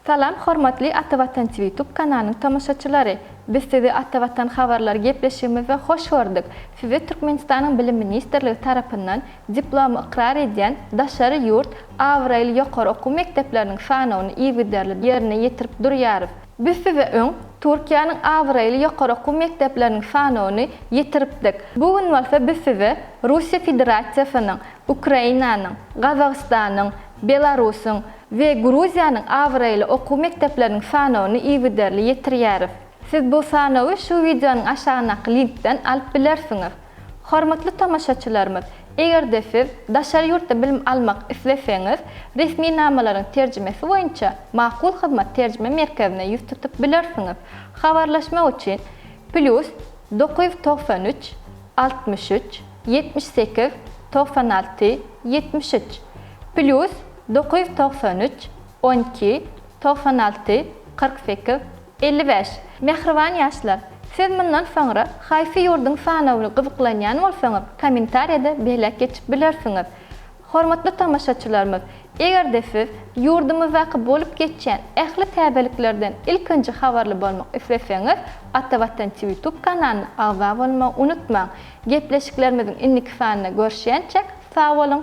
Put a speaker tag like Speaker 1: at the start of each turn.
Speaker 1: Salam hormatly Ata Watan TV YouTube kanalynyň tomaşaçylary! Biz sizi Ata Watan habarlary gepleşigimizde hoş gördük. Size Türkmenistanyň Bilim ministrligi tarapyndan diplomy ykrar edýän daşary ýurt abraýly ýokary okuw mekdepleriniň sanawyny yzygiderli ýerine ýetirip durýarys. Biz size öň Türkiýäniň abraýly ýokary okuw mekdepleriniň sanawyny ýetiripdik. Bu gün bolsa biz size Russiýa Federasiýasynyň, Ukrainanyň, Gazagystanyň, Belarusyň we Gruziýanyň abraýly okuw mekdepleriniň sanawyny yzygiderli ýetirýäris. Siz bu sanawy şu wideonyň aşagyndaky linkden alyp bilersiňiz. Hormatly tomaşaçylarymyz, eger-de siz daşary ýurtda bilim almak isleseňiz, resminamalaryň terjimesi boýunça Makul Hyzmat terjime merkezine ýüz tutup bilersiňiz. Habarlaşmak üçin plýus dokuz ýüz togsan üç, altmyş üç, ýetmiş sekiz, togsan alty, ýetmiş üç, plýus dokuz ýüz togsan üç, on iki, togsan alty, kyrk sekiz, Elli bäş. Mähriban ýaşlar! Siz mundan soňra haýsy ýurduň sanawyny gyzyklanýan bolsaňyz, kommentariýada belläp geçip bilersiňiz. Hormatly tomaşaçylarymyz, eger-de siz ýurdumyzdaky bolup geçýän ähli täzeliklerden ilkinji habarly bolmak isleseňiz, Ata Watan Twiýutube kanalyna agza bolmagy unutmaň. Gepleşiklerimiziň indiki sanynda görüşýänçäk, sag boluň!